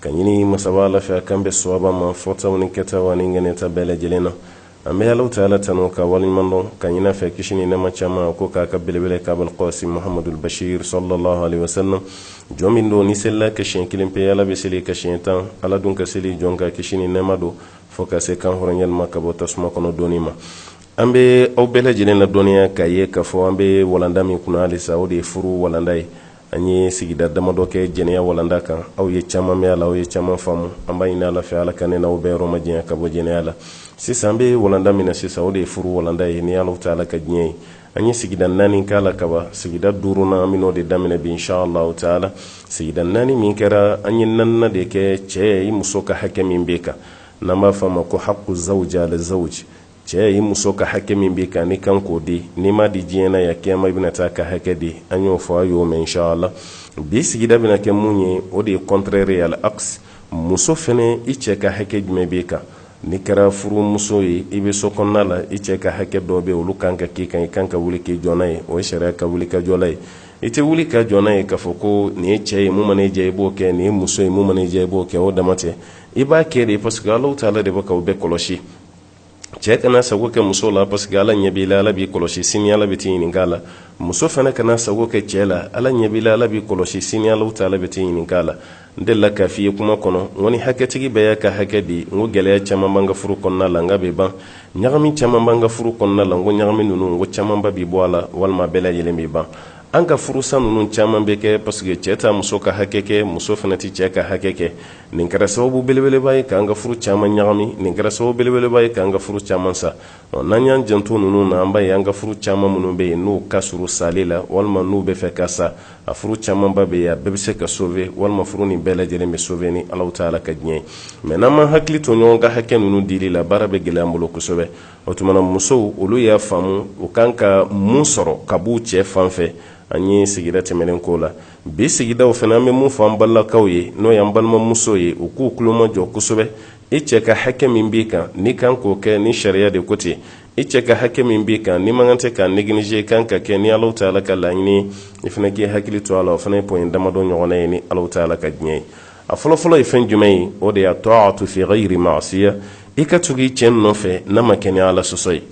ka ɲini masaba ala fɛ a k'an bɛn sawaba ma fɔtaw ni kɛtaw ani ŋaniyata bɛɛ lajɛlen na an bɛ alahu taala tanu k'a waleɲuman dɔn ka ɲin'a fɛ kisi ni nɛɛma caman k'o k'a ka belebele kan abal qasim muhamadul bashir sallallahu alaihi wasallam jɔn min don n'i selil'a kan siɲɛ kelen pe ala bɛ sel'i kan siɲɛ tan ala dun ka seli jɔn kan kisi ni nɛɛma don fɔ ka se kanhɔrɔnyali ma ka bɔ tasuma kɔnɔ donni ma an bɛ aw bɛɛ lajɛlen ladɔnniya k'a ye k'a fɔ an bɛ walanda min kunna halisa o de ye furu walanda ye an ye sigida damadɔ kɛ jɛnɛya walanda kan aw ye caman mɛn a la aw ye caman faamu an b'a ɲini ala fɛ ala ka ne n'aw bɛɛ yɔrɔ majanya ka bɔ jɛnɛya la sisan an bɛ walanda min na sisan o de ye furu walanda ye ni ala taala ka diɲɛ ye an ye sigida naani k'a la kaba sigida duurunan an bɛn'o de daminɛ bi inshallah taala sigida naani min kɛra an ye naaninan de kɛ cɛ i muso ka hakɛ min b'i kan n'an b'a fɔ a ma ko haqqu zawja ala zawji cɛɛ i muso ka hakɛ min b'i kan n'i kan k'o di n'i m'a di diɲɛ na ya kiyama i bɛna taa ka hakɛ di an y'o fɔ a y'o mɛn inshallah bi sigida bɛna kɛ mun ye o de ye contraire al aks muso fɛnɛ i cɛ ka hakɛ jumɛn b'i kan n'i kɛra furumuso ye i bɛ so kɔnɔna la i cɛ ka hakɛ dɔ bɛ olu kan ka k'i kan i kan ka wuli k'i jɔ n'a ye o ye sariya ka wuli ka jɔla ye i tɛ wuli ka jɔ n'a ye k'a fɔ ko nin ye cɛ ye mun mana i diya i b'o kɛ nin ye muso ye mun mana i diya i b'o kɛ o dama tɛ i b'a kɛ de parce que Alahu Taala de bɛ k'aw bɛɛ kɔlɔsi cɛɛ kana sago kɛ muso la parce que ala ɲɛ b'i la ala b'i kɔlɔsi sini ala bɛ t'i ɲininka la muso fana kana sago kɛ cɛɛ la ala ɲɛ b'i la ala b'i kɔlɔsi sini ala taala bɛ t'i ɲininka la n delila k'a f'i ye kuma kɔnɔ n ko ni hakɛtigi bɛɛ y'a ka hakɛ di n ko gɛlɛya caman b'an ka furu kɔnɔna la n k'a bɛ ban ɲagami caman b'an ka furu kɔnɔna la n ko ɲagami ninnu n ko camanba bɛ bɔ a la walima bɛɛ lajɛlen bɛ ban an ka furusa ninnu caman bɛ kɛ parce que cɛɛ t'a muso ka hakɛ kɛ muso fana tɛ cɛɛ ka hakɛ kɛ nin kɛra sababu belebeleba ye k'an ka furu caman ɲagami nin kɛra sababu belebeleba ye k'an ka furu caman sa n'an y'an janto ninnu na an b'a ye an ka furu caman minnu bɛ yen n'u ka surun sali la walima n'u bɛ fɛ ka sa a furu camanba bɛ yen a bɛɛ bɛ se ka sauver walima furu nin bɛɛ lajɛlen bɛ sauver ni alahu taala ka diɲɛ ye mais n'an ma hakili to ɲɔgɔn ka hakɛ ninnu dili la baara bɛ gɛlɛya an bolo kosɛbɛ o tuma na musow olu y'a faamu u kan ka mun sɔrɔ ka b'u cɛ fan fɛ an ye sigida tɛmɛnen k'o la bi sigidaw fana an bɛ mun fɔ an balakaw ye n'o y'an balimamuso ye u k'u kulomajɔ kosɛbɛ i cɛ ka hakɛ min b'i kan n'i kan k'o kɛ ni sariya de ko ten i cɛ ka hakɛ min b'i kan n'i man kan tɛ k'a négliger i kan k'a kɛ ni alahu taala ka laɲini ye i fana k'i hakili to a la o fana ye point damadɔ ɲɔgɔnna ye ni alahu taala ka diɲɛ ye a fɔlɔfɔlɔ ye fɛn jumɛn ye o de ye taatu fi gayiri maasiya i ka tugu i cɛ nɔfɛ n'a ma kɛ ni ala sɔsɔ ye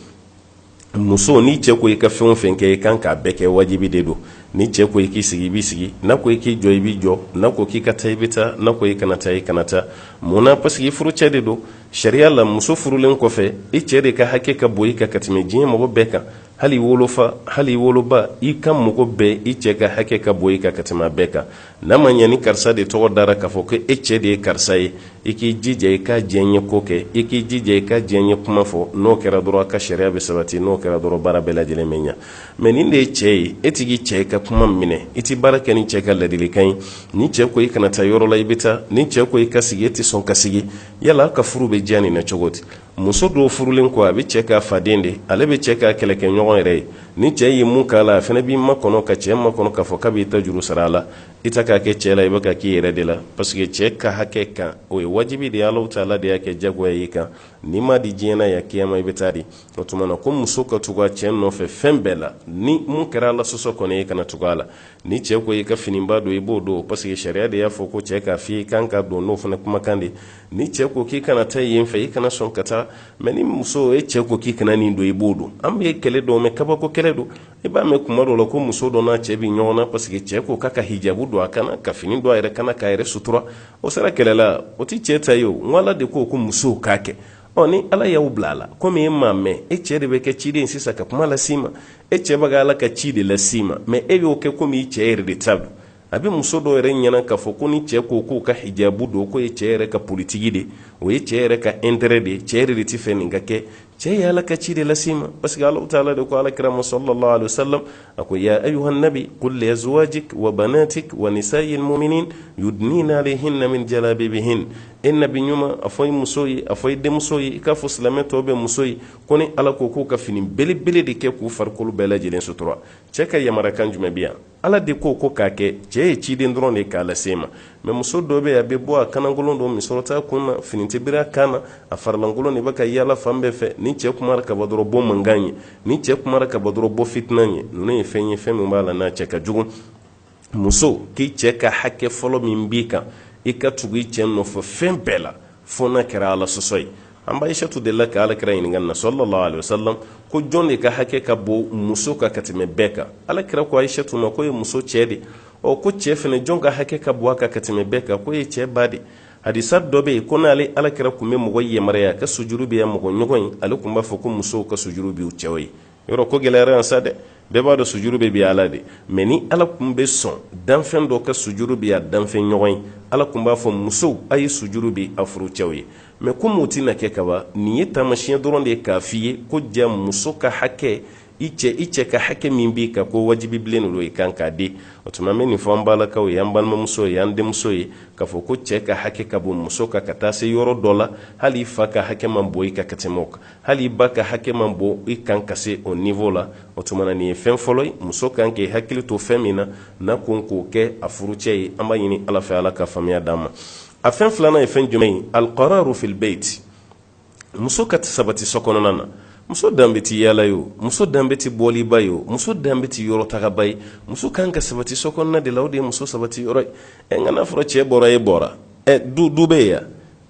muso n'i cɛ ko i ka fɛn o fɛn kɛ i kan k'a bɛɛ kɛ wajibi de don n'i cɛ ko i k'i sigi i b'i sigi n'a ko i k'i jɔ i b'i jɔ n'a ko k'i ka taa i bɛ taa n'a ko i kana taa i kana taa mun na parce que furucɛ de don sariya la muso furulen kɔfɛ i cɛ de ka hakɛ ka bon i kan ka tɛmɛ diɲɛ mɔgɔ bɛɛ kan hali wolofa hali woloba i ka mɔgɔ bɛɛ i cɛ ka hakɛ ka bon i kan ka tɛmɛ bɛɛ kan n'a ma ɲɛ ni karisa de tɔgɔ dara k'a fɔ ko e cɛ de ye karisa ye i k'i jija i k'a diyanye ko kɛ i k'i jija i k'a diyanye kuma fɔ n'o kɛra dɔrɔn a ka sariya bɛ sabati n'o kɛra dɔrɔn baara bɛɛ lajɛlen bɛ ɲa mɛ nin de ye cɛ ye e tɛ k'i cɛ ka kuma minɛ i tɛ baara kɛ ni cɛ ka ladilikan ye ni cɛ ko i kana taa yɔrɔ la i bɛ taa ni cɛ ko i ka sigi e tɛ sɔn ka sigi yala a ka furu bɛ diya nin na cogo di muso dɔw furulen kɔ a bɛ cɛ k'a faden de ale bɛ cɛ k'a kɛlɛkɛɲɔgɔn yɛrɛ ye ni cɛ ye mun k'a la a fana b'i makɔnɔ ka cɛ makɔnɔ k'a fɔ k'a b'i ta juru sara a la i tɛ k'a kɛ cɛ la i bɛ k'a k'i yɛrɛ de la parce que cɛ ka hakɛ kan o ye wajibi de ye alahu taala de y'a kɛ jagoya y'i kan n'i m'a di diɲɛ na yan kiyama i bɛ t'a di o tuma na ko muso ka tugu a cɛ nɔfɛ fɛn bɛɛ la ni min kɛra ala sɔsɔ kɔni i kana tugu a la ni cɛ ko i ka finiba don i b'o don parce que sariya de y'a fɔ ko cɛ k'a f'i kan ka don n'o fana kumakan de ni cɛ ko k'i kana taa yen fɛ i kana sɔn ka taa mɛ ni muso e cɛ ko k'i kana nin don i b'o don an bɛ kɛlɛ dɔ mɛn kabako kɛlɛ don i b'a mɛn kuma dɔ la ko muso dɔ n'a cɛ bɛ ɲɔgɔn na parce que cɛ ko k'a ka hijabu don a ka na ka fini don a yɛrɛ kan a k'a yɛrɛ sutura o sera kɛlɛ la o tɛ cɛ ta ye o n ala de ko ko musow k'a kɛ ɔ ni ala y'aw bila a la komi e m'a mɛn e cɛ de bɛ kɛ ciden sisan ka kuma las'i ma e cɛ bɛ ka ala ka ci de las'i ma mɛ e y'o kɛ komi i cɛ yɛrɛ de ta don a bɛ muso dɔw yɛrɛ ɲɛna k'a fɔ ko ni cɛ ko k'o ka hijabu don k'o ye cɛ yɛrɛ ka politiki de o ye cɛ yɛrɛ ka intérêt de ye cɛ yɛrɛ de t'a fɛ nin ka kɛ cɛ ye ala ka ci de lase i ma parce que alahu taala de ko ala kira ma sallallahu alaihi wasallam a ko ya ayuhan nabi qul li azwajik wa banatik wa nisa'il mu'minin yudnina alayhinna min jalabibihin e nabi ɲuman a fɔ i muso ye a fɔ i denmuso ye i k'a fɔ silamɛ tɔw bɛɛ muso ye ko ne ala ko k'u ka fini belebele de kɛ k'u farikolo bɛɛ lajɛlen sutura cɛ ka yamarakan jumɛn bɛ yan ala de ko ko k'a kɛ cɛɛ ye ciden dɔrɔn de k'a lase i ma mɛ muso dɔ bɛ yan a bɛ bɔ a kanankolon don misɔrɔ t'a kun na fini tɛ biri a kan na a farilankolon de bɛ ka yaala fan bɛɛ fɛ ni cɛɛ kumara kaban dɔrɔn bɔ mankan ye ni cɛɛ kumara kaban dɔrɔn bɔ fitina ye ninnu ye fɛn ye fɛn min b'a la n'a cɛ ka jugu muso k'i cɛɛ ka hakɛ fɔlɔ min b'i kan i ka tugu i cɛɛ nɔfɛ fɛn bɛɛ la fo n'a kɛra ala sɔsɔ ye an ba aisatu delila ka ala kira ɲininka na sallallahu alaihi wasallam ko jɔn de ka hakɛ ka bon muso kan ka tɛmɛ bɛɛ kan ala kira ko aisatu ma k'o ye muso cɛ de ɔ ko cɛ fɛnɛ jɔn ka hakɛ ka bon a kan ka tɛmɛ bɛɛ kan k'o ye cɛ ba de hadisa dɔ bɛ yen ko n'ale ala kira kun bɛ mɔgɔ yamaruya ka sujuru bin a mɔgɔ ɲɔgɔn ye ale kun b'a fɔ ko musow ka sujuru bin u cɛw ye yɔrɔ ko gɛlɛyara yan sa dɛ bɛɛ b'a dɔn sujuru bɛ bin ala de mɛ ni ala kun bɛ sɔn danfɛn dɔ ka sujuru bin a danfɛn ɲɔgɔn ye ala kun b'a fɔ musow a ye sujuru bin a furucɛw ye mɛ komi o tɛna kɛ kaban nin ye taamasiɲɛ dɔrɔn de ye k'a f'i ye ko ja muso ka hakɛ i cɛ i cɛ ka hakɛ min b'i kan k'o wajibi bilen de don i kan k'a di o tuma an bɛ nin fɔ an balakaw ye an balimamuso ye an denmuso ye k'a fɔ ko cɛ ka hakɛ ka bon muso kan ka taa se yɔrɔ dɔ la hali i fa ka hakɛ man bon i kan ka tɛmɛ o kan hali i ba ka hakɛ man bon i kan ka se o niveau la o tuma na nin ye fɛn fɔlɔ ye muso kan k'i hakili to fɛn min na n'a kan k'o kɛ a furucɛ ye an b'a ɲini ala fɛ ala ka faamuya d'an ma a fɛn filanan ye fɛn jumɛn ye alqararu fil bait muso ka sabati so kɔnɔna na muso danbe ti yaala ye o muso danbe ti bɔliba ye o muso danbe ti yɔrɔ tagaba ye muso kan ka sabati so kɔnɔna de la o de ye muso sabati yɔrɔ ye ɛ nka n'a fɔra cɛ bɔra e bɔra ɛ du du bɛ yen ya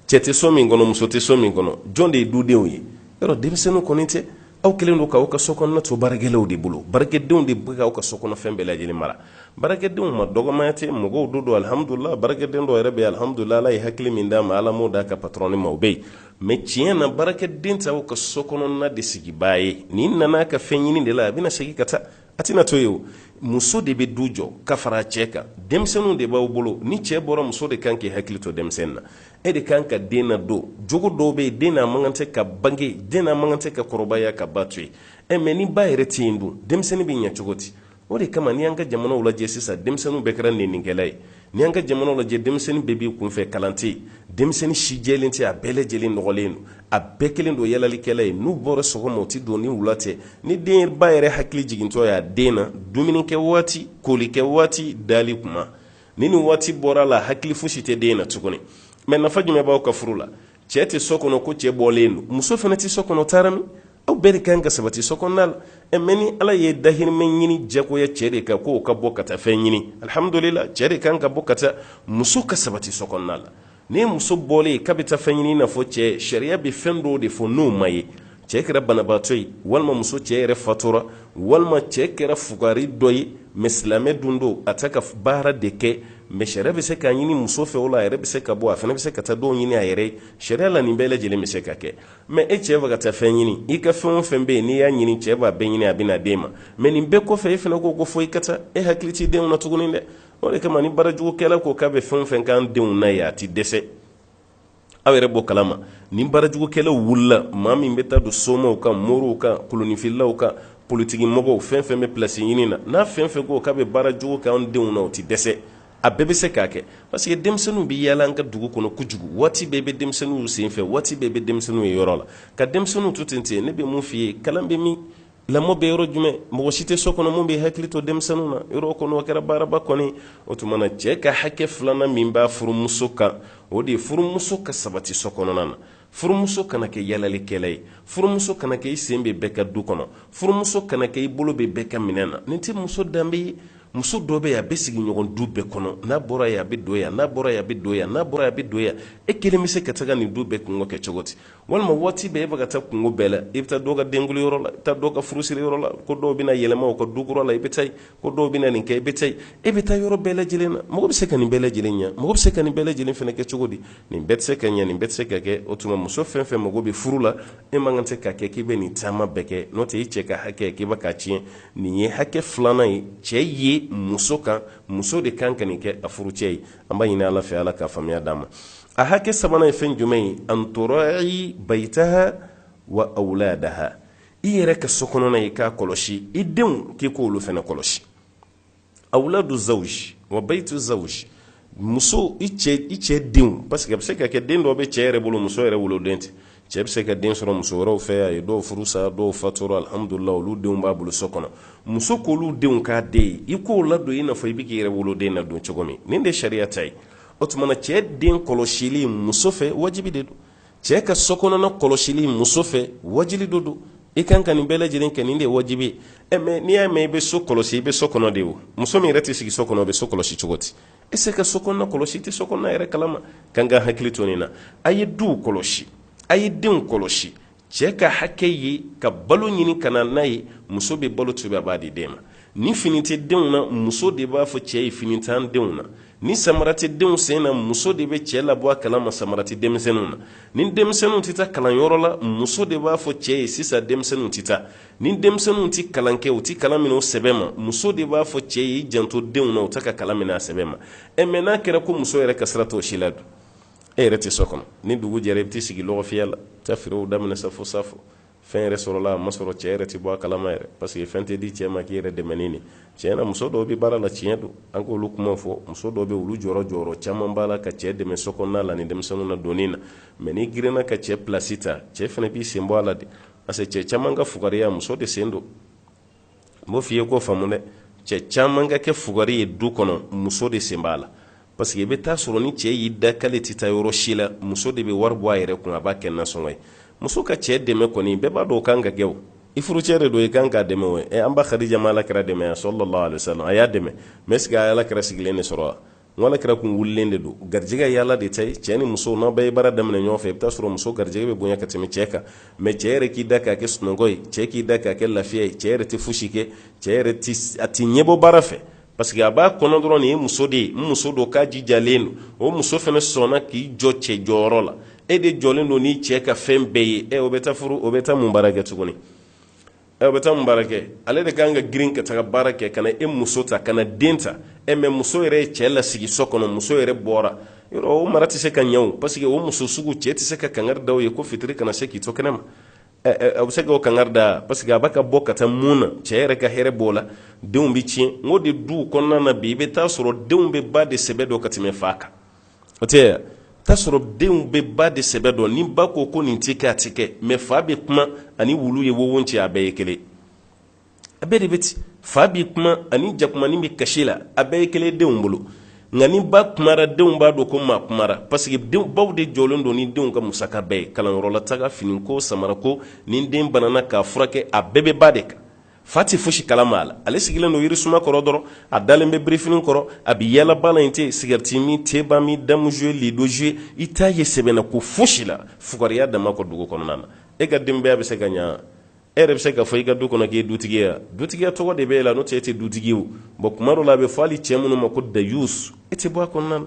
cɛ tɛ so min kɔnɔ muso tɛ so min kɔnɔ jɔn de ye dudenw ye yɔrɔ denmisɛnninw kɔni tɛ aw kɛlen don k'aw ka so kɔnɔna to baarakɛlaw de bolo baarakɛdenw de bɛ aw ka so kɔnɔfɛn bɛɛ lajɛlen mara baarakɛdenw ma dɔgɔmaya tɛ mɔgɔw de don alihamudulila baarakɛden dɔ yɛrɛ bɛ alihamudulila ala ye hakili min d'a ma ala m'o d'a ka patɔrɔni ma o bɛ yen mɛ tiɲɛ na baarakɛden tɛ aw ka so kɔnɔna de sigibaa ye nin nana ka fɛn ɲini de la a bɛna segin ka taa a tɛna to yen o muso de bɛ du jɔ ka fara cɛ kan denmisɛnninw de b'aw bolo ni cɛ bɔra muso de kan k'i hakili to denmisɛnnin na e de kan ka den nadon jogo dɔw bɛ yen den n'a man kan tɛ ka bange den n'a man kan tɛ ka kɔrɔbaya k'a ba to yen ɛ mɛ ni ba yɛrɛ tɛ yen dun denmisɛnnin bɛ ɲɛ cogo di o de kama n'i y'an ka jamanaw lajɛ sisan denmisɛnninw bɛɛ kɛra nenikɛla ye ni an ka jamanaw lajɛ denmisɛnnin bɛɛ b'i kunfɛ kalan tɛ denmisɛnnin si jɛlen tɛ a bɛɛ lajɛlen nɔgɔlen don a bɛɛ kɛlen don yaalalikɛla ye n'u bɔra sɔgɔma u tɛ don ni wula tɛ ni den ba yɛrɛ hakili jigintɔ y'a den na dumuni kɛ waati koli kɛ waati dali kuma ni nin waati bɔra a la hakili fosi tɛ den na tuguni mɛ nafa jumɛn b'aw ka furu la cɛ tɛ so kɔnɔ ko cɛ bɔlen don muso fana tɛ so kɔnɔ taara min aw bɛɛ de kan ka sabati so kɔnɔna la ɛ mɛ ni ala ye dahirimɛ ɲini jagoya cɛ de kan k'o ka bɔ ka taa fɛn ɲini alihamdulila cɛ de kan ka bɔ ka taa muso ka sabati so kɔnɔna la ni muso bɔlen k'a bɛ taa fɛn ɲini i n'a fɔ cɛ sariya bɛ fɛn dɔw de fɔ n'o ma ye cɛ kɛra banabaatɔ ye walima muso cɛ yɛrɛ fatura walima cɛ kɛra fugari dɔ ye mɛ silamɛ dun don a tɛ ka baara de kɛ mɛ sariya bɛ se k'a ɲini muso fɛ o la a yɛrɛ bɛ se ka bɔ a fana bɛ se ka taa dɔw ɲini a yɛrɛ ye sariya la nin bɛɛ lajɛlen bɛ se ka kɛ mɛ e cɛ bɛ ka taa fɛn ɲini i ka fɛn o fɛn bɛ yen n'i y'a ɲini cɛ b'a bɛɛ ɲini a bɛna d'e ma mɛ nin bɛɛ kɔfɛ e fana ko ko fo i ka taa e hakili t'i denw na tuguni dɛ o de kama ni baarajugukɛla ko k'a bɛ fɛn o fɛn k'an denw na ye a ti dɛsɛ aw yɛrɛ b'o kalama ni baarajugukɛlaw wulila maa min bɛ taa don somaw kan moriw kan kolonifilaw kan politiki mɔgɔw fɛn fɛn bɛ pilasi ɲini na n'a fɛn fɛn ko k'a bɛ baarajugu k'an denw na o ti dɛsɛ a bɛɛ bɛ se k'a kɛ parce que denmisɛnninw bɛ yaala an ka dugu kɔnɔ kojugu waati bɛɛ bɛ denmisɛnninw senfɛ waati bɛɛ bɛ denmisɛnninw ye yɔrɔ la ka denmisɛnninw to ten ten ne bɛ mun f'i ye kalan bɛ min lamɔ bɛ yɔrɔ jumɛn mɔgɔ si tɛ so kɔnɔ min bɛ hakili to denmisɛnninw na yɔrɔ kɔnɔ o kɛra baaraba kɔni o tuma na cɛ ka hakɛ filanan min b'a furumuso kan o de ye furumuso ka sabati so kɔnɔna na Furumuso kana kɛ yalalikɛla ye. Furumuso kana kɛ i sen bɛ bɛɛ ka du kɔnɔ. Furumuso kana kɛ i bolo bɛ bɛɛ ka minɛn na. Nin tɛ muso danbe ye. Muso dɔ bɛ yen, a bɛ sigiɲɔgɔn du bɛɛ kɔnɔ. N'a bɔra yen, a bɛ don yan. N'a bɔra yen, a bɛ don yan. N'a bɔra yen, a bɛ don yan. E kelen bɛ se ka taga nin du bɛɛ kunko kɛ cogo di? Walima waati bɛɛ e bɛ ka taa kunko bɛɛ la. I bɛ taa dɔ ka denkundi yɔrɔ la, i bɛ taa dɔ ka furusiri yɔrɔ la, ko dɔw bɛna yɛlɛma u ka du kura la, i bɛ taa yen. ko dɔw bɛna nin kɛ i bɛ taa e bɛ taa yɔrɔ bɛɛ lajɛlen na mɔgɔ bɛ se ka nin bɛɛ lajɛlen ɲɛ mɔgɔ bɛ se ka nin bɛɛ lajɛlen fana kɛ cogo di nin bɛɛ tɛ se ka ɲɛ nin bɛɛ tɛ se ka kɛ o tuma muso fɛn fɛn mago bɛ furu la e man kan tɛ ka kɛ k'i bɛ nin caman bɛɛ kɛ n'o tɛ e cɛ ka hakɛ k'i bɛ k'a tiɲɛ nin ye hakɛ filanan ye cɛ ye muso kan muso de kan ka nin kɛ a furucɛ ye an b'a ɲini ala fɛ ala ka faamuya d'an ma a hakɛ sabanan ye fɛn jumɛn ye an tura'i bayitaha wa awuladaha i yɛrɛ ka so kɔnɔna i k'a kɔlɔsi i denw k'i k'olu fana kɔlɔsi awuladu zawuj wa bayitu zawuj muso i cɛ i cɛ denw parce que a bɛ se ka kɛ den dɔw bɛ cɛ yɛrɛ bolo muso yɛrɛ woloden tɛ cɛ bɛ se ka den sɔrɔ muso wɛrɛw fɛ a ye dɔw furu sa dɔw fatura alihamudulila olu denw b'a bolo so kɔnɔ muso k'olu denw k'a den ye i k'o ladon i n'a fɔ i bɛ k'i yɛrɛ woloden ladon cogo min nin de sariya ta ye o tuma na cɛ den kɔlɔsili muso fɛ wajibi de don cɛ ka sokɔnɔna kɔlɔsili muso fɛ wajibi de don i kan ka nin bɛɛ lajɛlen kɛ nin de ye wajibi ye eh, mais n'i y'a mɛn i bɛ so kɔlɔsi i bɛ so kɔnɔ de o muso min yɛrɛ tɛ sigi so kɔnɔ o bɛ so kɔlɔsi cogo di i se ka so kɔnɔna kɔlɔsi i tɛ so kɔnɔna yɛrɛ kalama a kan k'a hakili to nin na a ye duw kɔlɔsi a ye denw kɔlɔsi cɛ ka hakɛ ye ka balo ɲini ka na n'a ye muso bɛ balo tobi a b'a di den ma ni fini tɛ denw na muso de b'a fɔ cɛ ye fini t'an denw na ni samara tɛ denw sen na muso de bɛ cɛ labɔ a kalama samara tɛ denmisɛnninw na ni denmisɛnninw tɛ taa kalanyɔrɔ la muso de b'a fɔ cɛ ye sisan denmisɛnninw tɛ taa ni denmisɛnninw tɛ kalan kɛ u tɛ kalan minɛ u sɛbɛ ma muso de b'a fɔ cɛ ye i janto denw na u tɛ ka kalan minɛ a sɛbɛ ma ɛ mais n'a kɛra ko muso yɛrɛ ka sira t'o si la dun e yɛrɛ tɛ so kɔnɔ ni dugu jɛra i bɛ t'i sigi lɔgɔfiyɛ la taa feerew daminɛ sa fo safo fɛn yɛrɛ sɔrɔla a ma sɔrɔ cɛ yɛrɛ tɛ bɔ a kalama yɛrɛ parce que fɛn tɛ di cɛ ma k'i yɛrɛ dɛmɛ ni nin tiɲɛ na muso dɔw bɛ baara la tiɲɛ don an k'olu kuma fɔ muso dɔw bɛ olu jɔyɔrɔ jɔyɔrɔ caman b'a la ka cɛ dɛmɛ so kɔnɔna la ni denmisɛnninw ladonni na mais n'i girinna ka cɛ pilasi ta cɛ fana b'i sen bɔ a la de parce que cɛ caman ka fugariya muso de sen don n b'o f'i ye k'o faamu dɛ cɛ caman ka kɛ fugari ye du kɔnɔ muso de sen b'a la parce que i bɛ taa sɔrɔ ni cɛ y'i da k'ale tɛ taa yɔrɔ si la muso de bɛ wari bɔ a yɛrɛ kun a b'a kɛ nasɔngɔ ye muso ka cɛ dɛmɛ kɔni bɛɛ b'a dɔn o kan ka kɛ o i furucɛ de don i kan k'a dɛmɛ o ɛ an ba khadija ma ala kira dɛmɛ ya sallallahu alaihi wasallam a y'a dɛmɛ mais est ce que a ye ala kira sigilen de sɔrɔ wa ala kira kun wulilen de don garijɛgɛ ye ala de ta ye cɛɛ ni muso n'a bɛɛ ye baara daminɛ ɲɔgɔn fɛ i bɛ taa sɔrɔ muso garijɛgɛ bɛ bonya ka tɛmɛ cɛɛ kan mɛ cɛɛ yɛrɛ k'i da k'a kɛ sunɔgɔ ye cɛɛ k'i da k'a kɛ lafiya ye cɛɛ yɛrɛ tɛ fosi kɛ cɛɛ yɛrɛ a tɛ ɲɛbɔ baara fɛ parce que a b'a kɔnɔ dɔrɔn nin ye muso de ye n muso don k'a jijalen don o muso fana sɔnna k'i jɔ cɛ jɔyɔrɔ la e de jɔlen don n'i cɛɛ ka fɛn bɛɛ ye ɛ o bɛ taa furu o bɛ taa mun baara kɛ tuguni ɛ o bɛ taa mun baara kɛ ale de ka kan ka girin ka taga baara kɛ ka na e muso ta ka na den ta ɛ mɛ muso yɛrɛ ye cɛ lasigi so kɔnɔ muso yɛrɛ bɔra yɔrɔ o mara tɛ se ka ɲɛ o parce que o muso sugu cɛ tɛ se ka kangari da o ye ko fitiri kana se k'i to kɛnɛ ma ɛ a bɛ se k'o kangari da parce que a b'a ka bɔ ka taa mun na cɛ yɛrɛ ka hɛrɛ b'o la denw bɛ tiɲɛ n ko de duw kɔnɔna na bi i bɛ taa sɔrɔ denw bɛ ba de sɛbɛ dɔn ka tɛmɛ fa kan o tɛ taa sɔrɔ denw bɛ ba de sɛbɛ dɔn ni ba ko ko nin tɛ kɛ a tɛ kɛ mɛ fa bɛ kuma ani wulu ye wowo cɛ a bɛɛ ye kelen a bɛɛ de bɛ ten fa bɛ kuma ani jakumanin bɛ kasi la a bɛɛ ye kelen denw bolo nka ni ba kumara denw b'a dɔn ko maa kumara parce que baw de jɔlen don ni denw ka musaka bɛɛ ye kalanyɔrɔla taga finiko samarako ni den banana k'a furakɛ a bɛɛ bɛ ba de kan Fa tɛ fosi kalama a la, ale sigilen don yirisuma kɔrɔ dɔrɔn, a dalen bɛ birifinin kɔrɔ, a bɛ yala baara in tɛ, sigarɛti min, teba min, damu jouer, lido jouer i t'a ye sɛbɛnako fosi la fugariya dama kɔ dugu kɔnɔna na. E ka denbaya bɛ se ka ɲɛ wa? E yɛrɛ bɛ se ka fɔ i ka du kɔnɔ k'i ye dutigi ye wa? Dutigiya tɔgɔ de bɛ e la n'o tɛ e tɛ dutigi ye o. Bon tuma dɔw la a bɛ fɔ hali cɛ minnu ma ko dayusu e tɛ bɔ a kɔnɔna na.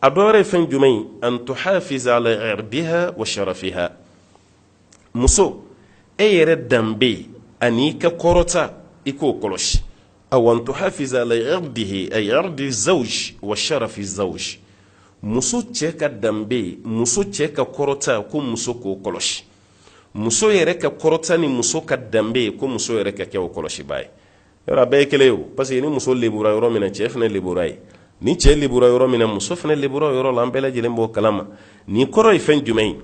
a dɔ wɛrɛ ye fɛn jumɛn ye an tuhafiza ala irdiha wa sharafiha muso e yɛrɛ danbe ani i ka kɔrɔta i k'o kɔlɔsi aw an tuhafiza ala irdihi ay irdi zawj wa sharafi zawj muso cɛ ka danbe muso cɛ ka kɔrɔta ko muso k'o kɔlɔsi muso yɛrɛ ka kɔrɔta ni muso ka danbe ko muso yɛrɛ ka kɛ o kɔlɔsibaa ye yɔrɔ a bɛɛ ye kelen ye o parce que ni muso lebura yɔrɔ min na cɛ fana lebura yen ni cɛ lebura yɔrɔ min na muso fana lebura yɔrɔ la an bɛɛ lajɛlen b'o kalama nin kɔrɔ ye fɛn jumɛn ye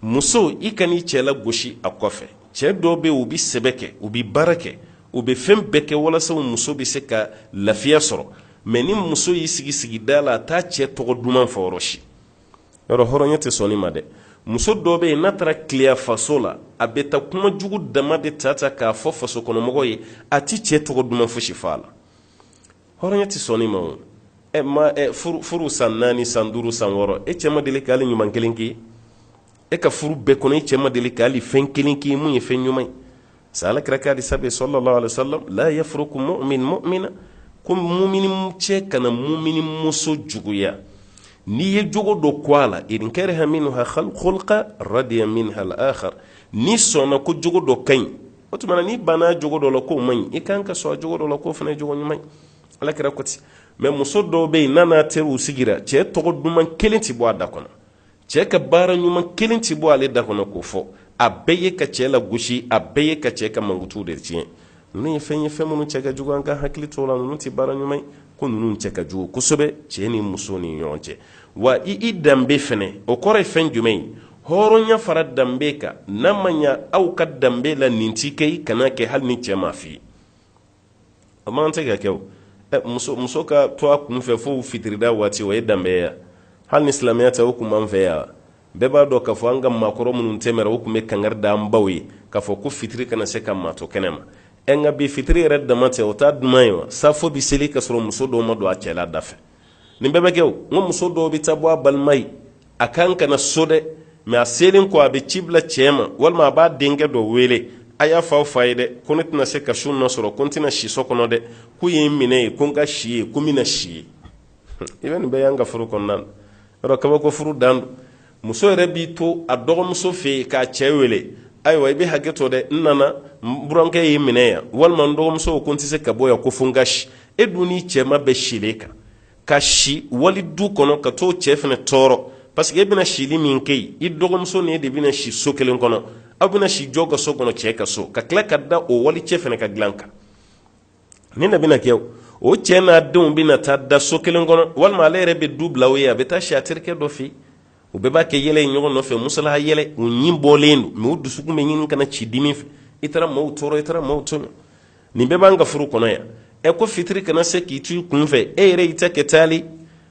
muso i kan'i cɛ lagosi a kɔfɛ cɛ dɔw bɛ u bɛ sɛbɛ kɛ u bɛ baara kɛ u bɛ fɛn bɛɛ kɛ walasa muso bɛ se ka lafiya sɔrɔ mɛ ni muso y'i sigi sigida la a t'a cɛ tɔgɔ duman fɔ yɔrɔ si yɔrɔ hɔrɔnya tɛ sɔn nin ma dɛ muso dɔ bɛ yen n'a taara tileya faso la a bɛ taa kuma jugu dama de ta ta k'a fɔ faso kɔnɔmɔgɔ ye a tɛ cɛ tɔgɔ duman fosi fɔ a la hɔrɔnya tɛ sɔn nin ma o ɛ ma ɛ furu san naani san duuru san wɔɔrɔ e cɛ ma deli ka hali ɲuman kelen k'i ye e ka furu bɛɛ kɔnɔ e cɛ ma deli ka hali fɛn kelen k'i ye mun ye fɛn ɲuman ye sa alakira k'a di sabe sallallahu alaihi wasallam la yafruku mu'min mu'mina ko mumini cɛ kana mumini muso juguya n'i ye jogo dɔ kɔn a la in kariha minha khulqa radiya minha al-akhar n'i sɔnna ko jogo dɔ ka ɲi o tuma na n'i banna jogo dɔ la k'o man ɲi i kan ka sɔn a jogo dɔ la k'o fana ye jogo ɲuman ye alakira ko ten mais muso dɔw bɛ yen n'a n'a teriw sigira cɛ tɔgɔ duman kelen tɛ bɔ a da kɔnɔ cɛɛ ka baara ɲuman kelen ti bɔ ale da kɔnɔ k'o fɔ a bɛɛ ye ka cɛɛ lagosi a bɛɛ ye ka cɛɛ ka mankutuw de tiɲɛ ninnu ye fɛn ye fɛn minnu cɛ ka jugu an ka hakili to la ninnu ti baara ɲuman ye ko ninnu cɛ ka jugu kosɛbɛ cɛɛ ni muso ni ɲɔgɔn cɛ wa i i danbe fɛnɛ o kɔrɔ ye fɛn jumɛn ye hɔrɔnya fara danbe kan n'a ma ɲa aw ka danbe la nin ti kɛ i kana kɛ hali ni cɛɛ m'a f'i ye a man tɛ ka kɛ o muso muso ka to a kun fɛ fo fitirida waati o ye danbeya hali ni silamɛya tɛ o kun b'an fɛ yan bɛɛ b'a dɔn k'a fɔ an ka maakɔrɔ minnu tɛmɛra o kun bɛ kangari da an baw ye k'a fɔ ko fitiri kana se ka maa to kɛnɛ ma ɛ nka bi fitiri yɛrɛ dama tɛ o t'a duman ye wa safo bi seli ka sɔrɔ muso dɔw ma don a cɛla da fɛ nin bɛɛ bɛ kɛ o n ko muso dɔw bɛ taa bɔ a balima ye a kan ka na so dɛ mais a selen kɔ a bɛ ci bila cɛ ma walima a b'a denkɛ dɔ wele a y'a fɔ aw fa ye dɛ ko ne tɛna se ka su na sɔrɔ ko n tɛna si so kɔnɔ dɛ k'u ye n minɛ yen ko n ka si yen ko n bɛna si yen i bɛ nin bɛɛ y'an ka furu kɔnɔna na o rɔ kabako furu dan don muso yɛrɛ b'i to a dɔgɔmuso fɛ yen k'a cɛ wele ayiwa i bɛ hakɛ to dɛ n nana n burankɛ ye n minɛ yan walima n dɔgɔmuso ko n tɛ se ka bɔ yan ko fo n ka si e dun n'i cɛ ma bɛn silen kan ka si wali du kɔnɔ ka t'o cɛ fana tɔɔrɔ parce que e bɛna sili min kɛ yen i dɔgɔmuso ni e de bɛna si so kelen kɔnɔ aw bɛna si jɔ ka so kɔnɔ cɛ ka so ka tila ka da o wali cɛ fana ka dilan kan ni na bɛna kɛ o cɛ n'a denw bɛna taa da so kelen kɔnɔ walima ale yɛrɛ bɛ du bila aw ye a bɛ taa si a terikɛ dɔ fɛ u bɛɛ b'a kɛ yɛlɛ in ɲɔgɔn nɔfɛ musala yɛlɛ u ɲin bɔlen don mais u dusukun bɛ ɲini ka na ci dimi fɛ i taara maaw tɔɔrɔ i taara maaw tɔɔrɔ nin bɛɛ b'an ka furu kɔnɔ yan ɛ ko fitiri kana se k'i to i kun fɛ e yɛrɛ i ta kɛ taali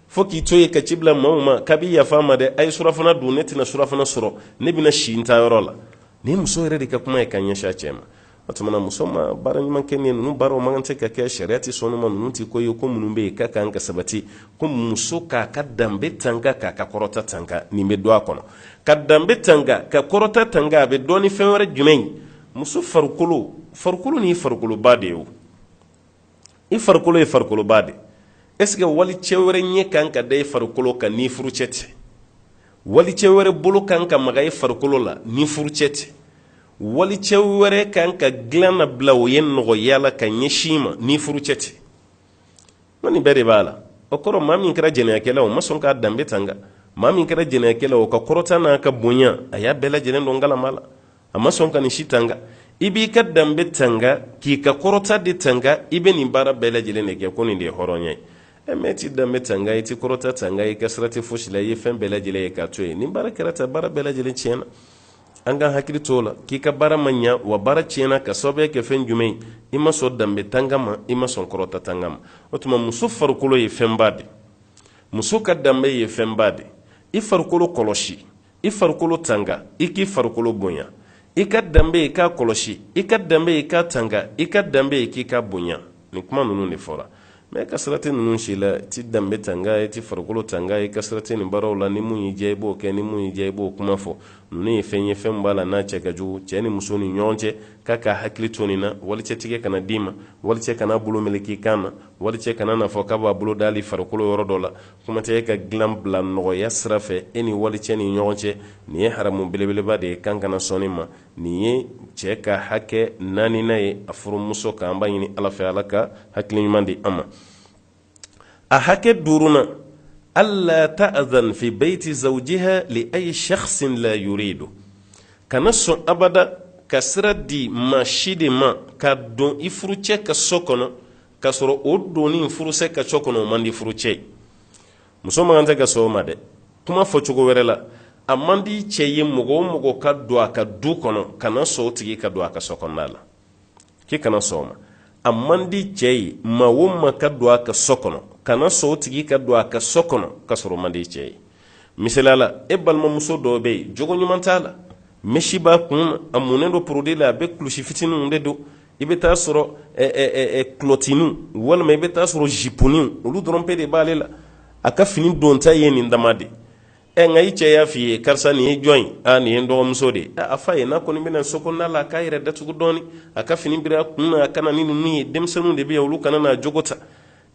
fo k'i to yen ka ci bila maaw ma k'aw bi yafa n ma dɛ a ye surafana dun ne tɛna surafana sɔrɔ ne bɛna si n taa yɔrɔ la nin muso yɛrɛ de ka kuma ye ka ɲɛsin a cɛ ma o tumana muso ma baara ɲuman kɛ nin ninnu baaraw man kan tɛ ka kɛ sariya tɛ sɔn u ma ninnu tɛ ko ye ko minnu bɛ yen ka kan ka sabati ko muso k'a ka danbe tanga k'a ka kɔrɔta tanga nin bɛ don a kɔnɔ ka danbe tanga ka kɔrɔta tanga a bɛ dɔn ni fɛn wɛrɛ jumɛn ye muso farikolo farikolo ni farikoloba de ye o i farikolo ye farikoloba de est-ce que wali cɛ wɛrɛ ɲɛ kan ka da i farikolo kan n'i furu cɛ tɛ wali cɛ wɛrɛ bolo kan ka maga i farikolo la n'i furu cɛ tɛ wali cɛ wɛrɛ kan ka dilan nabila o ye nɔgɔya la ka ɲɛsin i ma n'i furu cɛ tɛ ko nin bɛɛ de b'a la o kɔrɔ maa min kɛra jɛnɛyakɛla o ma sɔn k'a danbe tanga maa min kɛra jɛnɛyakɛla o ka kɔrɔta n'a ka bonya a y'a bɛɛ lajɛlen dɔn kalama la a ma sɔn ka nin si tanga i b'i ka danbe tanga k'i ka kɔrɔta de tanga i bɛ nin baara bɛɛ lajɛlen de kɛ ko nin de ye hɔrɔnya ye e min t'i danbe tanga i t'i kɔrɔta tanga i ka sira tɛ fosi la i ye fɛn bɛɛ lajɛlen ye k'a to yen nin baara kɛra ta baara bɛɛ lajɛlen tiɲɛna an ka hakili t'o la k'i ka baara ma ɲa wa baara tiɲɛna ka sababuya kɛ fɛn jumɛn ye i ma sɔn danbe tanga ma i ma sɔn kɔrɔta tanga ma o tuma muso farikolo ye fɛnba de muso ka danbe ye fɛnba de i farikolo kɔlɔsi i farikolo tanga i k'i farikolo bonya i ka danbe i k'a kɔlɔsi i ka danbe i k'a tanga i ka danbe i k'i ka bonya nin kuma ninnu de fɔra mɛ i ka sira tɛ ninnu si la i t'i danbe tanga i t'i farikolo tanga i ka sira tɛ nin baaraw la ni mun y'i diya i b'o kɛ ni mun y'i diya i b'o kuma fɔ ninnu ye fɛn ye fɛn b'a la n'a cɛ ka jugu cɛ ni muso ni ɲɔgɔn cɛ k'a k'a hakili to nin na walicɛ tɛgɛ kana d'i ma walicɛ kana bolo meleke i kan na walicɛ kana na fɔ k'a b'a bolo da i farikolo yɔrɔ dɔ la kuma tɛ e ka dilan bila nɔgɔya sira fɛ e ni wali cɛ ni ɲɔgɔn cɛ nin ye haramu belebeleba de ye k'an kana sɔn nin ma nin ye cɛ ka hakɛ naaninan ye a furumuso kan an b'a ɲini ala fɛ ala ka hakili ɲuman di an ma a hakɛ duurunan ala taazana fi bayti zawjiha li ayi saksin la yuridu kana sɔn abada ka sira di maa si de ma ka don i furucɛ ka so kɔnɔ k'a sɔrɔ o donni i furucɛ ka so kɔnɔ o man di i furucɛ ye muso man kan de ka sɔn o ma dɛ kuma fɔ cogo wɛrɛ la a man di cɛ ye mɔgɔ o mɔgɔ ka don a ka du kɔnɔ kana sɔn o tigi ka don a ka so kɔnɔna la k'i kana sɔn o ma a man di cɛ ye maa o maa ka don a ka so kɔnɔ kana sɔn o tigi ka don a ka so kɔnɔ ka sɔrɔ o man di cɛ ye misali la e balimamuso dɔ bɛ yen jogo ɲuman t'a la mɛsi b'a kun na a munnen don porodi la a bɛ kulusi fitininw de don i bɛ taa sɔrɔ kulɔtinin walima i bɛ taa sɔrɔ zipunin olu dɔrɔn pe de b'ale la a ka fini donta ye nin dama de ɛ nka i cɛ y'a f'i ye karisa nin ye jɔn ye aa nin ye n dɔgɔmuso de ye a f'a ye n'a kɔni bɛna so kɔnɔna la a k'a yɛrɛ datugu dɔɔnin a ka fini bir'a kun na a ka na ninnu ye denmisɛnninw de bɛ ye olu kana n'a jogo ta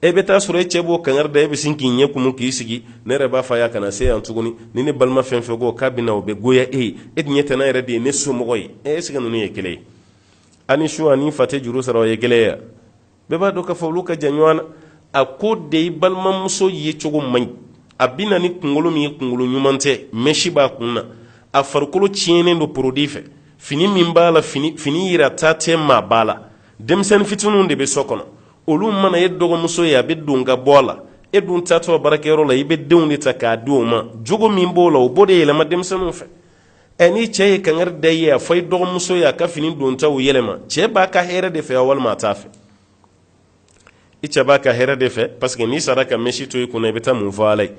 e bɛ taa sɔrɔ e cɛ b'o kankari da e bɛ sin k'i ɲɛ kumu k'i sigi ne yɛrɛ b'a f'a y'a kana se yan tuguni ni ne balima fɛn fɛn ko k'a bɛna o bɛ goya e ye e tun ɲɛ tɛ ne yɛrɛ de ye ne somɔgɔ ye ɛsike ninnu ye kelen ye ani su ani fa tɛ juru sara o ye kelen ye wa bɛɛ b'a dɔn k'a fɔ olu ka jan ɲɔgɔn na a ko de i balimamuso ye cogo man ɲi a bɛ na ni kunkolo min ye kunkolo ɲuman tɛ mɛsi b'a kun na a farikolo tiɲɛnen don porodi fɛ fini min b'a la fini yirata tɛ maaba la denmisɛnnin fitininw de bɛ so kɔnɔ olu mana e dɔgɔmuso ye a bɛ don ka bɔ a la e dun taatɔ baarakɛyɔrɔ la i bɛ denw de ta k'a di o ma jogo min b'o la o b'o de yɛlɛma denmisɛnninw fɛ ɛ ni cɛ ye kangari da i ye a fɔ i dɔgɔmuso ye a ka fini dontaw yɛlɛma cɛ b'a ka hɛrɛ de fɛ walima a t'a fɛ i cɛ b'a ka hɛrɛ de fɛ parce que n'i sara ka mesi to i kunna i bɛ taa mun fɔ ala ye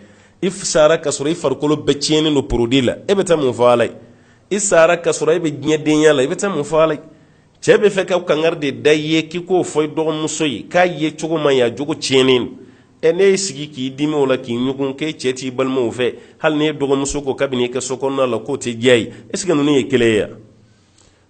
i sara ka sɔrɔ i farikolo bɛɛ tiɲɛnen don porodi la e bɛ taa mun fɔ ala ye i sara ka sɔrɔ e bɛ diɲɛdenya la i bɛ taa mun fɔ ala ye cɛ bɛ fɛ ka kangari de da i ye k'i k'o fɔ i dɔgɔmuso ye k'a yecogo man ɲi a jogo tiɲɛnen don ɛ ne y'i sigi k'i dimi o la k'i ɲugun k'e cɛ t'i balimaw fɛ hali n'e dɔgɔmuso ko k'a bɛ na i ka so kɔnɔna la k'o tɛ diya a ye est ce que ninnu ye kelen ye wa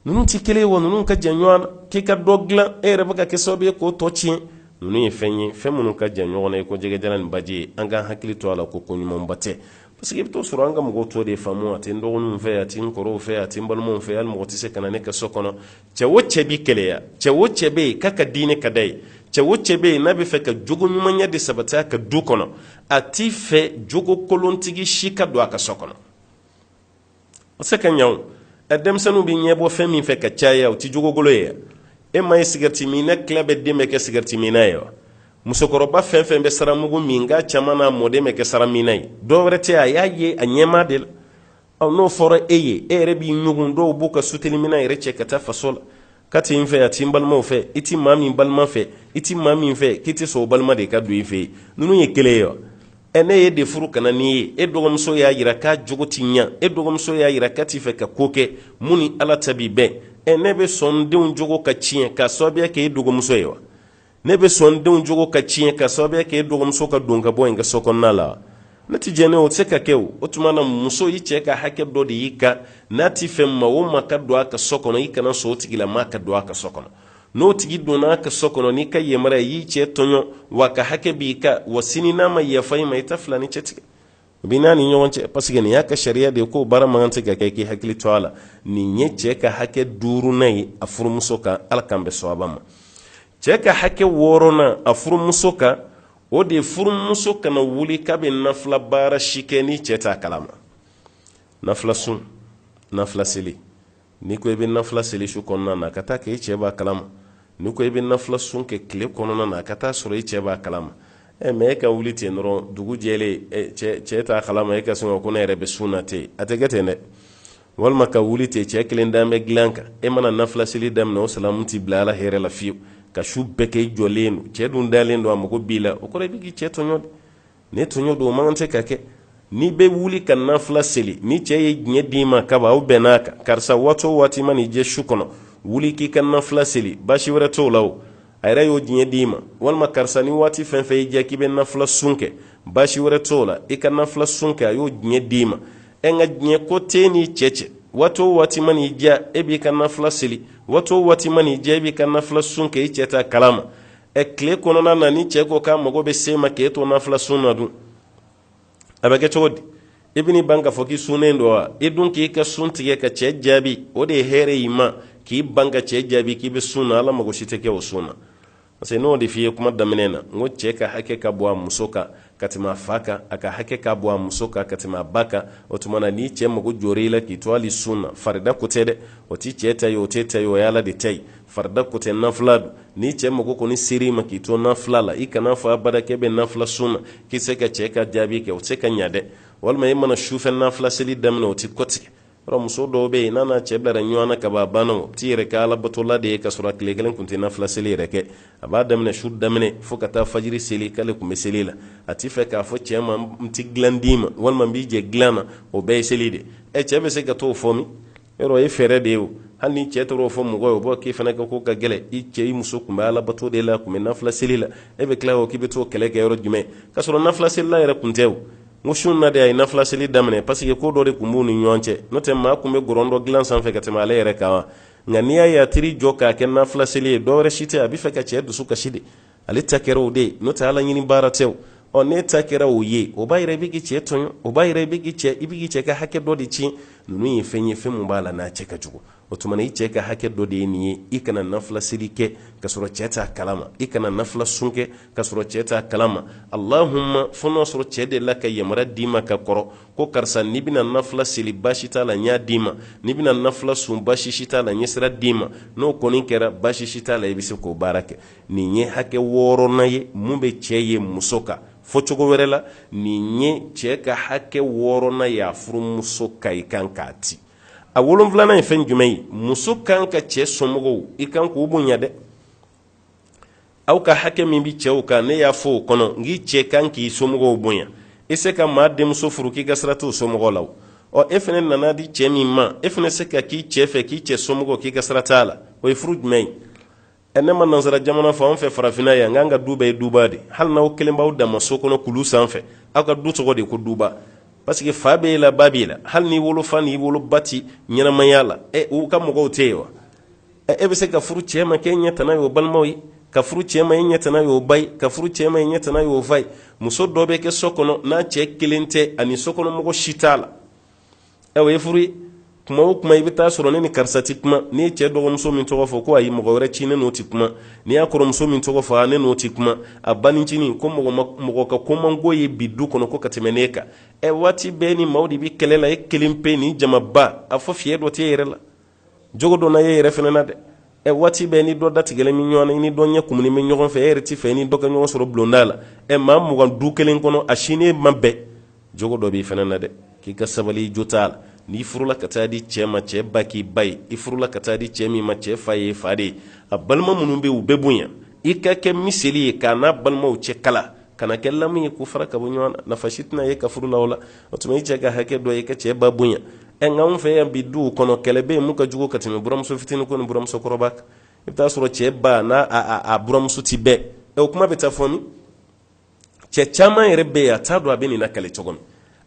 ninnu tɛ kelen ye wa ninnu ka jan ɲɔgɔn na k'i ka dɔ dilan e yɛrɛ bɛ ka kɛ sababu ye k'o tɔ tiɲɛ ninnu ye fɛn ye fɛn minnu ka jan ɲɔgɔn na i ko jɛgɛjalan ni baji ye an k'an hakili to a la ko ko ɲumanba tɛ parce que i bɛ t'o sɔrɔ an ka mɔgɔw t'o de faamu a tɛ n dɔgɔninw fɛ a tɛ n kɔrɔw fɛ a tɛ n balimaw fɛ hali mɔgɔ tɛ se ka na ne ka so kɔnɔ cɛ o cɛ bɛ keleya cɛ o cɛ bɛ yen k'a ka diinɛ ka d'a ye cɛ o cɛ bɛ yen n'a bɛ fɛ ka jogo ɲumanya de sabati a ka du kɔnɔ a tɛ fɛ jogokolontigi si ka don a ka so kɔnɔ o se ka ɲa o denmisɛnninw bɛ ɲɛbɔ fɛn min fɛ k'a caya o tɛ jogokolon ye e ma ye sigɛriti minna tila bɛ den bɛ kɛ sigɛriti minna ye wa musokɔrɔba fɛn fɛn bɛ saramugu min k'a caman na mɔden bɛ kɛ sara minna ye dɔ wɛrɛ tɛ a y'a ye a ɲɛmaa de la aw n'o fɔra e ye e yɛrɛ b'i ɲugun dɔw b'u ka sutelimina yɛrɛ cɛ ka taa faso la k'a tɛ n fɛ a tɛ n balimaw fɛ i tɛ maa min balima fɛ i tɛ maa min fɛ k'i tɛ sɔn o balima de ka don i fɛ yen ninnu ye kelen ye wa ɛ ne y'e de furu ka na n'i ye e dɔgɔmuso y'a jira k'a jogo tɛ ɲɛ e dɔgɔmuso y'a jira k'a tɛ fɛ ka ko kɛ min ni ala ta bɛ bɛn ɛ ne bɛ sɔn n denw jogo ka tiɲɛ k'a sababuya kɛ e dɔgɔmuso ye wa ne bɛ sɔn denw jogo ka tiɲɛ k'a sababuya kɛ e dɔgɔmuso ka don ka bɔ ye n ka so kɔnɔna la ne tɛ jɛn o tɛ se ka kɛ o o tuma na muso i cɛ ka hakɛ dɔ de y'i kan n'a tɛ fɛ maa o maa ka don a ka so kɔnɔ i kana sɔn o tigilamaa ka don a ka so kɔnɔ n'o tigi donna a ka so kɔnɔ n'i ka yamaruya y'i cɛ tɔɲɔ wa a ka hakɛ b'i kan wa sini n'a ma yafa i ma i tɛ fila ni cɛ tigɛ u bɛ n'a ni ɲɔgɔn cɛ parce que nin y'a ka sariya de ye k'o baara man kan tɛ ka kɛ k'i hakili to a la nin ye cɛ ka hakɛ duurunan ye a furumuso kan ala k'an bɛn sawaba ma cɛ ka hakɛ wɔɔrɔnan a furumuso kan o de ye furumuso kana wuli k'a bɛ nafila baara si kɛ ni cɛ t'a kalama nafila sun nafila seli n'i ko i bɛ nafila seli su kɔnɔna na a ka t'a kɛ i cɛ b'a kalama n'i ko i bɛ nafila sun kɛ tile kɔnɔna na a ka t'a sɔrɔ i cɛ b'a kalama ɛ mais e ka wuli ten dɔrɔn dugu jɛlen cɛ t'a kalama e ka sin ko ne yɛrɛ bɛ sun na ten a tɛ kɛ ten dɛ walima ka wuli ten cɛ kelen dan bɛ dilan kan e mana nafila seli daminɛ o salamu tɛ bila ala hɛrɛ la fiyewu ka su bɛɛ kɛ i jɔlen don cɛ dun dalen don a mago b'i la o kɔrɔ i bɛ k'i cɛ tɔɲɔ de ni tɔɲɔ don o man kan tɛ ka kɛ n'i bɛ wuli ka nafila seli ni cɛ ye diɲɛ d'i ma kaba aw bɛnn'a kan karisa waati o waati man'i diya su kɔnɔ wuli k'i ka nafila seli baasi wɛrɛ t'o la o a yɛrɛ y'o diɲɛ d'i ma walima karisa ni waati fɛn fɛn y'i diya k'i bɛ nafila sun kɛ baasi wɛrɛ t'o la i ka nafila sun kɛ a y'o diɲɛ d'i ma nka diɲɛ ko t'e n'i cɛ cɛ waati o waati man'i diya e b'i ka nafila seli waati o waati man'i diya e b'i ka nafila sun kɛ i cɛ t'a kalama ɛ tile kɔnɔna na ni cɛ ko k'a mago bɛ s'e ma k'e to nafila sun na dun a bɛ kɛ cogo di i bɛn'i ban k'a fɔ k'i sunnen don wa i dun k'i ka sun tigɛ ka cɛ jaabi o de ye hɛrɛ y'i ma k'i ban ka cɛ jaabi k'i bɛ sun na ala mago si tɛ kɛ o sun na parce que n y'o de f'i ye kuma daminɛ na n ko cɛ ka hakɛ ka bon a muso kan ka tɛmɛ a fa kan a ka hakɛ ka bon a muso kan ka tɛmɛ a ba kan o tuma na n'i cɛ mago jɔra i la k'i to hali sun na farida ko tɛ dɛ o t'i cɛ ta ye o t'e ta ye o ye ala de ta ye farida ko tɛ nafila don n'i cɛ mago kɔni ser'i ma k'i to nafila la i kana fɔ abada k'e bɛ nafila sun na k'i se ka cɛ ka jaabi kɛ o tɛ se ka ɲa dɛ walima i mana sufɛ nafila seli daminɛ o tɛ kɔtigɛ yɔrɔ muso dɔw bɛ yen n'a n'a cɛ bilara ɲɔgɔn na kaban a banna o t'i yɛrɛ kɛ alabatola de ye ka sɔrɔ a tile kelen kun tɛ nafila seli yɛrɛ kɛ a b'a daminɛ su daminɛ fo ka taa fajiri seli k'ale kun bɛ seli la a t'i fɛ k'a fɔ cɛ ma n tɛ dilan d'i ma walima n b'i jɛ dilan na o bɛɛ ye seli de ɛ cɛ bɛ se ka t'o fɔ min yɔrɔ o ye fɛɛrɛ de ye o hali ni cɛ taara o fɔ mɔgɔ ye o b'a k'i fana ka ko ka gɛlɛn i cɛ i muso kun bɛ alabato de la kun bɛ nafila seli la e bɛ tila o k'i bɛ t'o kɛlɛ kɛ yɔrɔ jumɛn ka sɔrɔ nafila selila yɛrɛ kun tɛ o n ko su in na de a ye nafilaseli daminɛ pasike ko dɔ de tun b'u ni ɲɔgɔn cɛ n'o tɛ maa tun bɛ gɔrɔndɔ dilan sanfɛ ka tɛmɛ ale yɛrɛ kan wa nka n'i y'a ye a taar'i jɔ k'a kɛ nafilaseli ye dɔwɛrɛ si tɛ a b'a fɛ ka cɛ dusu kasi de ale ta kɛra o de ye n'o tɛ ala ɲini baara tɛ o ɔ n'e ta kɛra o ye o b'a yira i bɛ k'i cɛ tɔɲɔ o b'a yira i bɛ k'i cɛ i bɛ k'i cɛ ka hakɛ dɔ de tiɲɛ ninnu ye fɛn ye fɛn min b'a la n'a cɛ ka jugu o tuma i cɛ ka hakɛ dɔ de ye nin ye i kana nafila seli kɛ ka sɔrɔ cɛ t'a kalama i kana nafila sun kɛ ka sɔrɔ cɛ t'a kalama alahuma fo n'a sɔrɔ cɛ delila ka yamaruya d'i ma ka kɔrɔ ko karisa n'i bɛna nafila seli baasi t'a la n y'a d'i ma n'i bɛna nafila sun baasi si t'a la n ye sira d'i ma n'o kɔni kɛra baasi si t'a la i bɛ se k'o baara kɛ nin ye hakɛ wɔɔrɔnan ye min bɛ cɛ ye muso kan fɔ cogo wɛrɛ la nin ye cɛ ka hakɛ wɔɔrɔnan ye a furumuso kan i kan k'a ti a wolonwulanan ye fɛn jumɛn ye muso kan ka cɛ somɔgɔw i kan k'u bonya dɛ aw ka hakɛ min bɛ cɛw kan ne y'a fɔ o kɔnɔ n k'i cɛ kan k'i somɔgɔw bonya i se ka maa denmuso furu k'i ka sira t'o somɔgɔw la ɔ e fɛnɛ nana di cɛ min ma e fɛnɛ se ka k'i cɛ fɛ k'i cɛ somɔgɔw k'i ka sira t'a la o ye furu jumɛn ye ɛ ne ma nansara jamana fɔ an fɛ farafinna yan k'an ka du bɛɛ ye duba de hali n'aw kelen b'aw dama so kɔnɔ kulu sanfɛ aw ka du tɔgɔ de ko duba pasike fa b'e la ba b'i la hali n'i wolofa n'i woloba ti ɲɛnamaya la ɛ u ka mɔgɔw tɛ yen wa ɛ e bɛ se ka furu cɛ ma k'e ɲɛ tana ye o balimaw ye ka furu cɛ ma e ɲɛ tana ye o ba ye ka furu cɛ ma e ɲɛ tana ye o fa ye muso dɔ bɛ kɛ so kɔnɔ n'a cɛ kelen tɛ a ni so kɔnɔ mɔgɔ si t'a la ɛ o ye furu ye kuma o kuma i bɛ taa sɔrɔ ne ni karisa ti kuma n'i ye cɛ dɔgɔmuso min tɔgɔ fɔ ko ayi mɔgɔ wɛrɛ ci ne n'o ti kuma n'i y'a kɔrɔmuso min tɔgɔ fɔ ne n'o ti kuma a banincinin ko mɔgɔ ka ko man ko ye bi du kɔnɔ ko ka tɛmɛ ne kan ɛ waati bɛɛ ni maaw de bɛ kɛlɛ la e kelen pe ni jamaba a fɔ fiyɛ dɔ t'e yɛrɛ la jogo donna e yɛrɛ fɛnɛ na dɛ ɛ waati bɛɛ ni dɔ da tigɛlen bɛ ɲɔgɔn na i ni dɔ ɲɛ kumunen bɛ ɲɔgɔn fɛ e yɛrɛ ti fɛ i ni dɔ ka ɲɔgɔn sɔrɔ bulonda la ɛ maa mugan du kelen kɔnɔ a si n'i ma bɛn jogo dɔ b'i fɛnɛ na dɛ k'i ka sabali jo t'a la n'i furula ka taa di cɛɛ ma cɛɛ ba k'i ba ye i furula ka taa di cɛɛ min ma cɛɛ fa y'e fa de ye a balima minnu bɛ u bɛɛ bonya i ka kɛ miseli ye k'a n'a balimaw cɛ kala kana kɛ lamu ye k'u fara ka bɔ ɲɔgɔn na nafa si tɛna y'e ka furu la o la o tuma i cɛ ka hakɛ dɔ ye ka cɛ ba bonya ɛ nka anw fɛ yan bi duw kɔnɔ kɛlɛ bɛ yen mun ka jugu ka tɛmɛ buramuso fitinin ko ni buramuso kɔrɔba kan i bɛ taa sɔrɔ cɛ ba n'a a a buramuso ti bɛn ɛ o kuma bɛ taa fɔ min cɛ caman yɛrɛ bɛ yen a t'a dɔn a bɛ nin lakali cogo min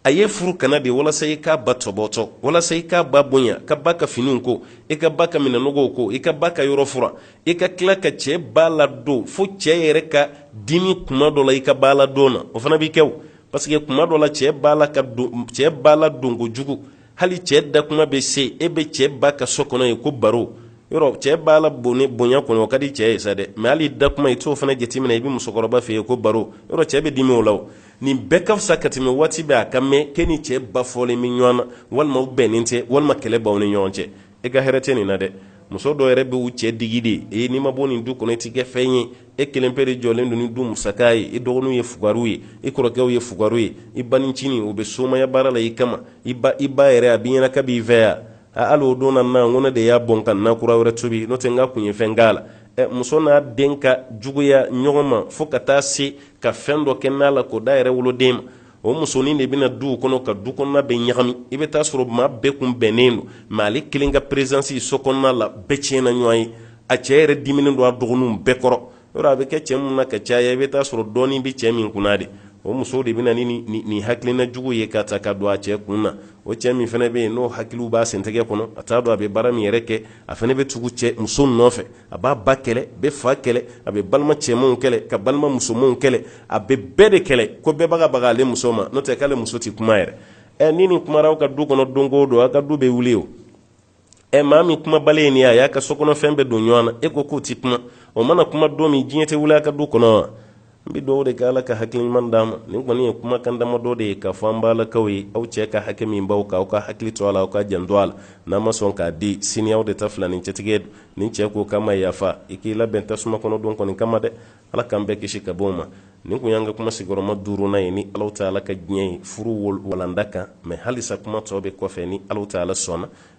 a y'e furu ka na de walasa i k'a ba tɔbɔtɔ walasa i k'a ba bonya k'a ba ka finiw ko i k'a ba ka minɛn nɔgɔw ko i k'a ba ka yɔrɔ furan i ka tila ka cɛɛ ba ladon fo cɛɛ yɛrɛ ka dimi kuma dɔ la i ka ba ladon na o fana bi kɛ o paseke kuma dɔ la cɛɛ ba la ka don cɛɛ ba ladon kojugu hali cɛɛ da kuma bɛ se e bɛ cɛɛ ba ka so kɔnɔ yen ko baro yɔrɔ cɛɛ ba la bone bonya kɔnɔ o ka di cɛɛ ye sa dɛ mɛ hali da kuma i t'o fana jateminɛ i bɛ musokɔrɔba fɛ yen ko baro yɔrɔ cɛɛ bɛ dimi o la o nin bɛɛ ka fisa ka tɛmɛ waati bɛɛ a ka mɛn k'e ni cɛ ba fɔlen bɛ ɲɔgɔn na walima u bɛnnen tɛ walima kɛlɛ b'aw ni ɲɔgɔn cɛ e ka hɛrɛ tɛ nin na dɛ muso dɔ yɛrɛ bɛ u cɛ digi de e n'i ma bɔ nin du kɔnɔ i ti kɛ fɛn ye e kelen pe de jɔlen don ni du musaka ye i dɔgɔninw ye fugariw ye i kɔrɔkɛw ye fugariw ye i banincini o bɛ somaya baara la i kama i ba i ba yɛrɛ a b'i ɲɛna k'a b'i fɛ ya a hali o don na na n ko ne de y'a bɔn ka na kura wɛrɛ tobi n'o tɛ n ka kun ye fɛn k'a la ɛ muso n'a den ka juguya ɲɔgɔn ma fo ka taa se ka fɛn dɔ kɛ na la k'o d'a yɛrɛ woloden ma o musonin de bɛ na duw kɔnɔ ka du kɔnɔna bɛɛ ɲagami i bɛ taa sɔrɔ maa bɛɛ kun bɛnnen don mɛ ale kelen ka perezansi so kɔnɔna la bɛɛ tiɲɛna ɲɔgɔn ye a cɛ yɛrɛ diminen don a dɔgɔninw bɛɛ kɔrɔ yɔrɔ a bɛ kɛ cɛ minnu na ka caya i bɛ taa sɔrɔ dɔɔnin bɛ cɛ min kunna de o muso de bɛ na ni nin hakilina jugu ye k'a ta k'a don a cɛ kun na o cɛ min fana bɛ yen n'o hakiliw b'a sentɛgɛ kɔnɔ a t'a dɔn a bɛ baara min yɛrɛ kɛ a fana bɛ tugu cɛ muso nɔfɛ a b'a ba kɛlɛ bɛ fa kɛlɛ a bɛ balima cɛmanw kɛlɛ ka balima musomanw kɛlɛ a bɛ bɛɛ de kɛlɛ k'o bɛɛ bagabaga ale muso ma n'o tɛ k'ale muso tɛ kuma yɛrɛ ɛ ni nin kumara aw ka du kɔnɔ don o don aw ka du bɛ wuli o ɛ maa min kumabali ye nin ye a y'a ka sokɔnɔfɛn bɛɛ don ɲɔgɔn na e ko k'o tɛ kuma o mana kuma don min diɲɛ tɛ wuli a ka du kɔnɔ wa n bɛ dugawu de kɛ ala ka hakili ɲuman d'a ma nin kɔni ye kumakan damadɔ de ye k'a fɔ an balakaw ye aw cɛ ka hakɛ min b'aw kan aw ka hakili to a la aw ka janto a la n'a ma sɔn k'a di sini aw de ta fila ni cɛtigɛ don ni cɛ ko k'a ma yafa i k'i labɛn tasuma kɔnɔ don kɔni kama dɛ ala k'an bɛɛ kisi ka bɔ o ma nin kun y'an ka kuma sigiyɔrɔma duurunan ye ni alahu taala ka diɲɛ ye furu walanda kan mɛ halisa kuma tɔ bɛ kɔfɛ ni alahu taala sɔnna